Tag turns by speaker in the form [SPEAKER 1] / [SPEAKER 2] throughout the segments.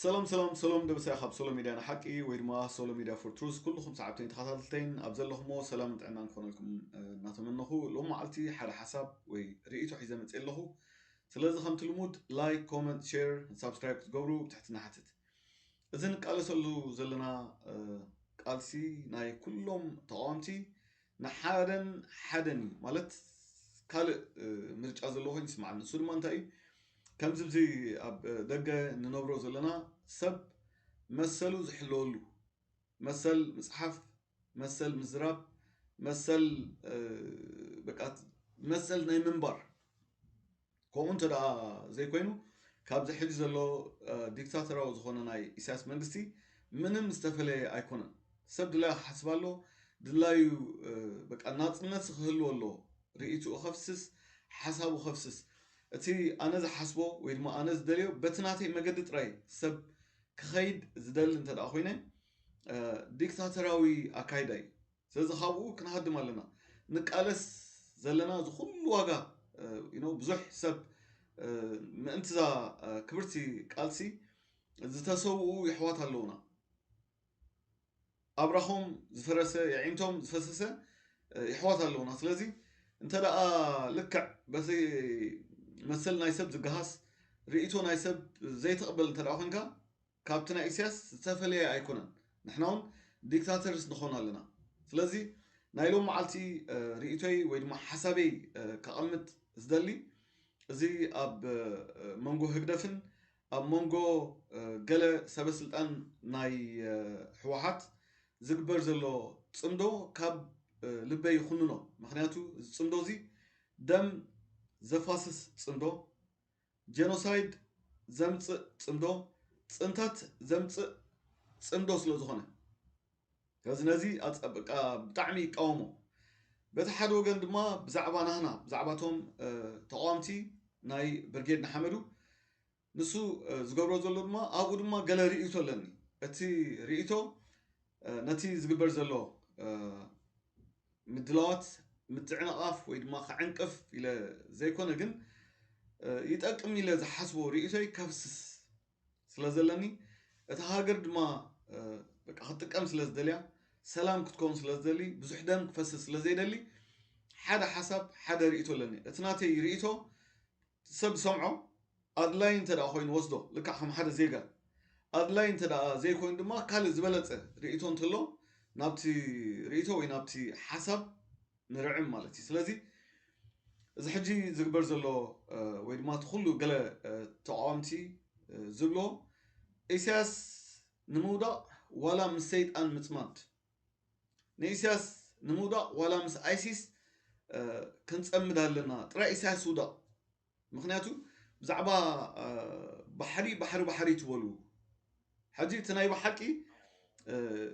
[SPEAKER 1] ሰላም ሰላም ሰሎም ደብሰ ካብ ሶሎ ሚድያ ንሓቂ ወይ ድማ ሶሎ ሚድያ ፎር ትሩዝ ኩልኹም ሰዓብተይን ተኸታተልተይን ኣብ ዘለኹሞ ሰላም ጥዕና ክኾነልኩም እናተመነኹ ሎም መዓልቲ ሓደ ሓሳብ ወይ ርእይቶ ሒዘ መፅ ኣለኹ ስለዚ ከምቲ ልሙድ ላይክ ኮመንት ሸር ሳብስክራይብ ክትገብሩ ብትሕትና ሓትት እዚ ንቃለሰሉ ዘለና ቃልሲ ናይ ኩሎም ተቃወምቲ ንሓደን ሓደን እዩ ማለት ካልእ ምርጫ ዘለዎ ኮይኑ ይስምዓኒ ንሱ ድማ እንታይ እዩ ከምዚ ብዚ ኣብ ደገ ንነብሮ ዘለና ሰብ መሰሉ ዝሕለወሉ መሰል ምፅሓፍ መሰል ምዝራብ መሰል በቃ መሰል ናይ ምንባር ከምኡ እንተ ዘይኮይኑ ካብዚ ሕጂ ዘሎ ዲክታተራዊ ዝኾነ ናይ ኢሳያስ መንግስቲ ምንም ዝተፈለየ ኣይኮነን። ሰብ ድላዩ ክሓስብ ኣሎ፣ ድላዩ በቃ ናጽነት ክህልዎ ኣሎ፣ ርእይትኡ ከፍስስ፣ ሓሳቡ ከፍስስ፣ እቲ ኣነ ዝሓስቦ ወይ ድማ ኣነ ዝደልዮ በቲ ናተይ መገዲ ጥራይ ሰብ ክኸይድ ዝደሊ እንተ ኮይነ ዲክታተራዊ ኣካይዳ እዩ። ስለዚ ካብኡ ክንሃድም ኣለና። ንቃለስ ዘለና እዚ ኩሉ ዋጋ ዩኖው ብዙሕ ሰብ ምእንቲ እዛ ክብርቲ ቃልሲ ዝተሰውኡ የሕዋት ኣለውና። ኣብራኾም ዝፈረሰ የዒንቶም ዝፈሰሰ የሕዋት ኣለውና። ስለዚ እንተ ደኣ ልክዕ በቲ መሰል ናይ ሰብ ዝገሃስ ርእይቶ ናይ ሰብ ዘይትቕበል እንተ ደኣ ኮንካ ካብቲ ናይ ኢስያስ ዝተፈለየ ኣይኮነን ንሕና ውን ዲክታተርስ ንኾን ኣለና ስለዚ ናይ ሎም መዓልቲ ሪኢቶይ ወይ ድማ ሓሳበይ ከቐምጥ ዝደሊ እዚ ኣብ መንጎ ህግደፍን ኣብ መንጎ ገለ ሰበ ስልጣን ናይ ሕወሓት ዝግበር ዘሎ ጽምዶ ካብ ልበይ ይኹንኖ ምክንያቱ እዚ ጽምዶ እዚ ደም ዘፋስስ ጽምዶ ጀኖሳይድ ዘምጽእ ጽምዶ ጽንተት ዘምጽእ ጽምዶ ስለ ዝኾነ ስለዚ ነዚ ኣጸብቃ ብጣዕሚ ይቃወሞ በቲ ሓደ ወገን ድማ ብዛዕባ ናህና ብዛዕባቶም ተቃዋምቲ ናይ ብርጌድ ንሓመዱ ንሱ ዝገብሮ ዘሎ ድማ ኣብኡ ድማ ገለ ርእይቶ ኣለኒ እቲ ርእይቶ ነቲ ዝግበር ዘሎ ምድላዋት ምትዕንቓፍ ወይ ድማ ክዕንቅፍ ኢለ ዘይኮነ ግን ይጠቅም ኢለ ዝሓስቦ ርእይቶይ ከፍስስ ስለ ዘለኒ እታ ሃገር ድማ በቃ ክትጥቀም ስለ ዝደልያ ሰላም ክትከውን ስለ ዝደሊ ብዙሕ ደም ክፈስስ ስለ ዘይደሊ ሓደ ሓሳብ ሓደ ርእይቶ ኣለኒ እቲ ናተይ ርእይቶ እቲ ሰብ ዝሰምዖ ኣድላዪ እንተ ደኣ ዀይኑ ወስዶ፣ ልክዕ ከም ሓደ ዜጋ። ኣድላዪ እንተ ደኣ ዘይኰይኑ ድማ ካልእ ዝበለጸ ርእይቶ እንተሎ ናብቲ ርእይቶ ወይ ናብቲ ሓሳብ ንርዕም ማለት ኢዩ። ስለዚ እዚ ሕጂ ዝግበር ዘሎ ወይ ድማ እቲ ዅሉ ገለ ተቓወምቲ ዝብልዎ ኢሳያስ ንምውዳቕ ዋላ ምስ ሰይጣን ምጽማድ ንኢሳያስ ንምውዳቕ ዋላ ምስ ኣይሲስ ክንጸምድ ኣለና ጥራይ ኢሳያስ ውዳቕ ምክንያቱ ብዛዕባ ባሕሪ ባሕሪ ባሕሪ ትበሉ ሕጂ እቲ ናይ ብሓቂ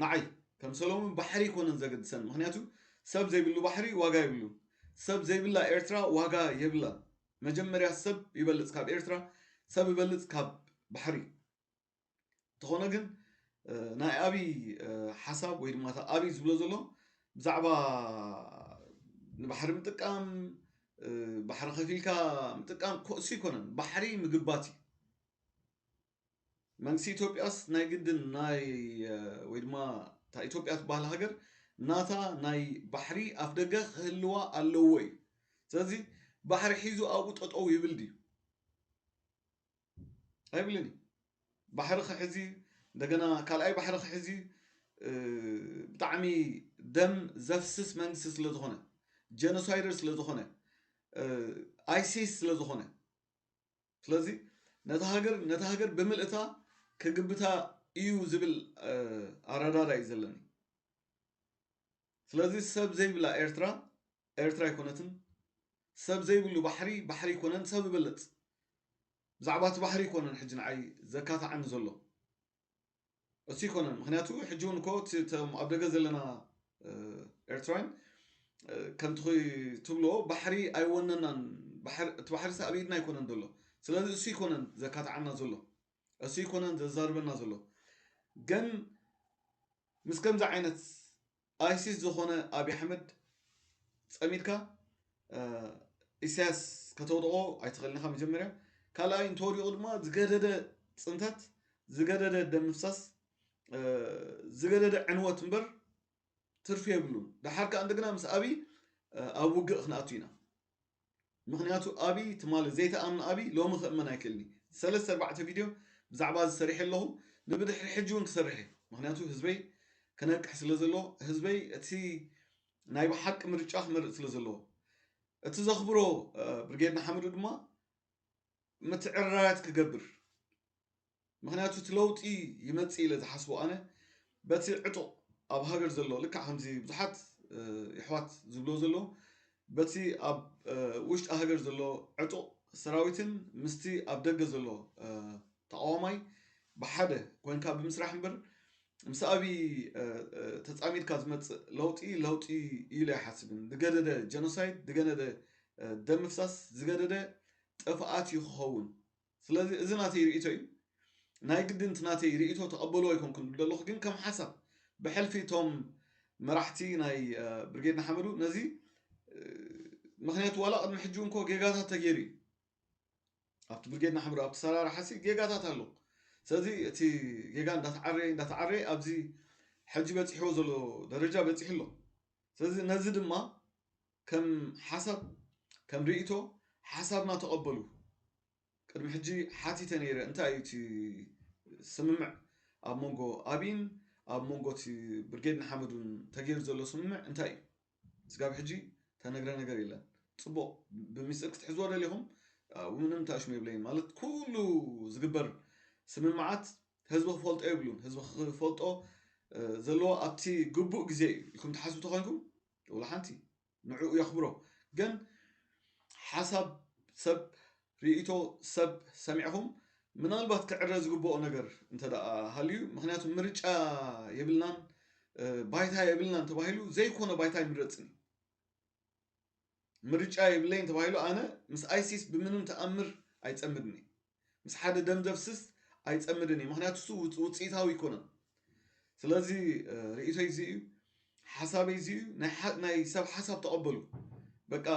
[SPEAKER 1] ንዓይ ከም ሰሎሙን ባሕሪ ይኮነን ዘገድሰን ምክንያቱ ሰብ ዘይብሉ ባሕሪ ዋጋ የብሉን ሰብ ዘይብላ ኤርትራ ዋጋ የብላን መጀመርያ ሰብ ይበልጽ ካብ ኤርትራ ሰብ ይበልጽ ካብ ባሕሪ እንተኾነ ግን ናይ ኣብይ ሓሳብ ወይ ድማ ኣብይ ዝብሎ ዘሎ ብዛዕባ ንባሕሪ ምጥቃም ባሕሪ ከፊልካ ምጥቃም ኮእሱ ኣይኮነን ባሕሪ ምግባት እዩ መንግስቲ ኢትዮጵያስ ናይ ግድን ናይ ወይ ድማ እታ ኢትዮጵያ ትበሃል ሃገር ናታ ናይ ባሕሪ ኣፍ ደገ ክህልዋ ኣለዎ እዩ ስለዚ ባሕሪ ሒዙ ኣብኡ ጠጠው ይብል ድዩ ኣይብልን እዩ ባሕሪ ክሕዝ እዩ እንደገና ካልኣይ ባሕሪ ክሕዝ እዩ ብጣዕሚ ደም ዘፍስስ መንግስቲ ስለ ዝኾነ ጀኖሳይደር ስለ ዝኾነ ኣይሲስ ስለ ዝኾነ ስለዚ ነታ ሃገር ነታ ሃገር ብምልእታ ክግብታ እዩ ዝብል ኣረዳዳ እዩ ዘለኒ ስለዚ ሰብ ዘይብላ ኤርትራ ኤርትራ ኣይኮነትን ሰብ ዘይብሉ ባሕሪ ባሕሪ ኣይኮነን ሰብ ይበልጽ ብዛዕባ እቲ ባሕሪ ኣይኮነን ሕጂ ንዓይ ዘካታዓኒ ዘሎ እሱ ኣይኮነን ምክንያቱ ሕጂ እውን እኮ እቶም ኣብ ደገ ዘለና ኤርትራውያን ከምቲ ትብሎ ባሕሪ ኣይወነናን እቲ ባሕሪ ሳ ኣብ ኢድና ኣይኮነን ዘሎ ስለዚ እሱ ኣይኮነን ዘካታዓና ዘሎ እሱ ኣይኮነን ዘዛርበና ዘሎ ግን ምስ ከምዚ ዓይነት ኣይሲስ ዝኾነ ኣብይ ኣሕመድ ጸሚድካ ኢሳያስ ከተውድቖ ኣይትኽእልን ኢኻ መጀመርያ። ካልኣይ እንተወዲቑ ድማ ዝገደደ ጽንተት፣ ዝገደደ ደም ምፍሳስ፣ ዝገደደ ዕንወት እምበር ትርፊ የብሉን። ደሓር ከኣ እንደገና ምስ ኣብይ ኣብ ውግእ ክንኣቱ ኢና። ምኽንያቱ ኣብይ ትማሊ ዘይተኣምነ ኣብይ ሎሚ ክእመን ኣይክእልን እዩ ሰለስተ ኣርባዕተ ቪድዮ ብዛዕባ እዚ ሰሪሐ ኣለኹ ንብድሕሪ ሕጂ እውን ክሰርሕ እዩ ምኽንያቱ ህዝበይ ክነቅሕ ስለ ዘለዎ ህዝበይ እቲ ናይ ብሓቂ ምርጫ ክመርፅ ስለ ዘለዎ እቲ ዘኽብሮ ብርጌድ ንሓመዱ ድማ ምትዕርራያት ክገብር ምኽንያቱ እቲ ለውጢ ይመጽእ ኢለ ዝሓስቦ ኣነ በቲ ዕጡቕ ኣብ ሃገር ዘሎ ልክዕ ከምዚ ብዙሓት የሕዋት ዝብሎ ዘሎ በቲ ኣብ ውሽጢ ሃገር ዘሎ ዕጡቕ ሰራዊትን ምስቲ ኣብ ደገ ዘሎ ተቃዋማይ ብሓደ ኮንካ ብምስራሕ እምበር ምስ ኣብዪ ተፃሚድካ ዝመፅእ ለውጢ ለውጢ ኢለ ኣይሓስብን ዝገደደ ጀኖሳይድ ዝገደደ ደም ምፍሳስ ዝገደደ ጥፍኣት እዩ ክኸውን ስለዚ እዚ ናተይ ሪኢቶ እዩ ናይ ግድን እቲ ናተይ ሪኢቶ ተቀበልዎ ኣይኮንኩን ዝብል ዘለኩ ግን ከም ሓሳብ ብሕልፊ እቶም መራሕቲ ናይ ብርጌድ ንሓመዱ ነዚ ምክንያቱ ዋላ ቅድሚ ሕጂ እንኮ ጌጋታት ተገይሩ እዩ ኣብቲ ብርጌድ ንሓመዱ ኣብቲ ሰራርሓሲ ጌጋታት ኣሎ ስለዚ እቲ ጌጋ እንዳተዓረየ እንዳተዓረየ ኣብዚ ሕጂ በፂሕዎ ዘሎ ደረጃ በፂሑ ኣሎ ስለዚ ነዚ ድማ ከም ሓሳብ ከም ሪኢቶ ሓሳብና ተቐበሉ። ቅድሚ ሕጂ ሓቲተ ነይረ እንታይ እዩ እቲ ስምምዕ ኣብ መንጎ ኣቢን ኣብ መንጎ እቲ ብርጌድ ንሓመዱን ተገይሩ ዘሎ ስምምዕ እንታይ እዩ? ስጋብ ሕጂ ተነግረ ነገር የለን። ጽቡቕ ብሚስጥር ክትሕዝዎ ደሊኹም ምንም ታሽሙ የብለይን ማለት ኩሉ ዝግበር ስምምዓት ህዝቢ ክፈልጦ የብሉን። ህዝቢ ክፈልጦ ዘለዎ ኣብቲ ግቡእ ግዜ እዩ ኢልኩም ትሓስቡ ተኾይንኩም ወላ ሓንቲ ንዕኡ የኽብሮ ግን ሓሳብ ሰብ ርእይቶ ሰብ ሰሚዕኹም ምናልባት ክዕረ ዝግብኦ ነገር እንተ ሃልዩ ምክንያቱ ምርጫ የብልናን ባይታ የብልናን ተባሂሉ ዘይኮነ ባይታ ይምረፅን ምርጫ የብለይን ተባሂሉ ኣነ ምስ ኣይሲስ ብምንም ተኣምር ኣይፀምድኒ ምስ ሓደ ደም ዘፍስስ ኣይጸምድን እዩ ምክንያቱ እሱ ውጽኢታዊ ኣይኮነን ስለዚ ርእቶይ እዚ እዩ ሓሳበይ እዚ እዩ ናይ ሰብ ሓሳብ ተቐበሉ በቃ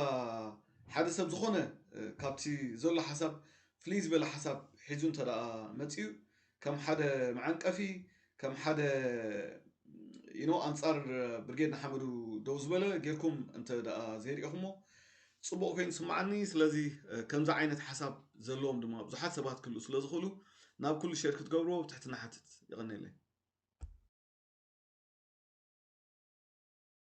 [SPEAKER 1] ሓደ ሰብ ዝኾነ ካብቲ ዘሎ ሓሳብ ፍልይ ዝበለ ሓሳብ ሒዙ እንተ መፅኡ ከም ሓደ መዐንቀፊ ከም ሓደ you know ኣንጻር ብርጌድ ንሓመዱ ደው ዝበለ ጌርኩም እንተ ደኣ ዘይርኢኹሞ ጽቡቕ ኮይኑ ስምዓኒ ስለዚ ከምዚ ዓይነት ሓሳብ ዘለዎም ድማ ብዙሓት ሰባት ክህልኡ ስለ ዝኽእሉ ናብ ኩሉ ሼር ክትገብርዎ ብትሕትና ሓትት የቐኔለይ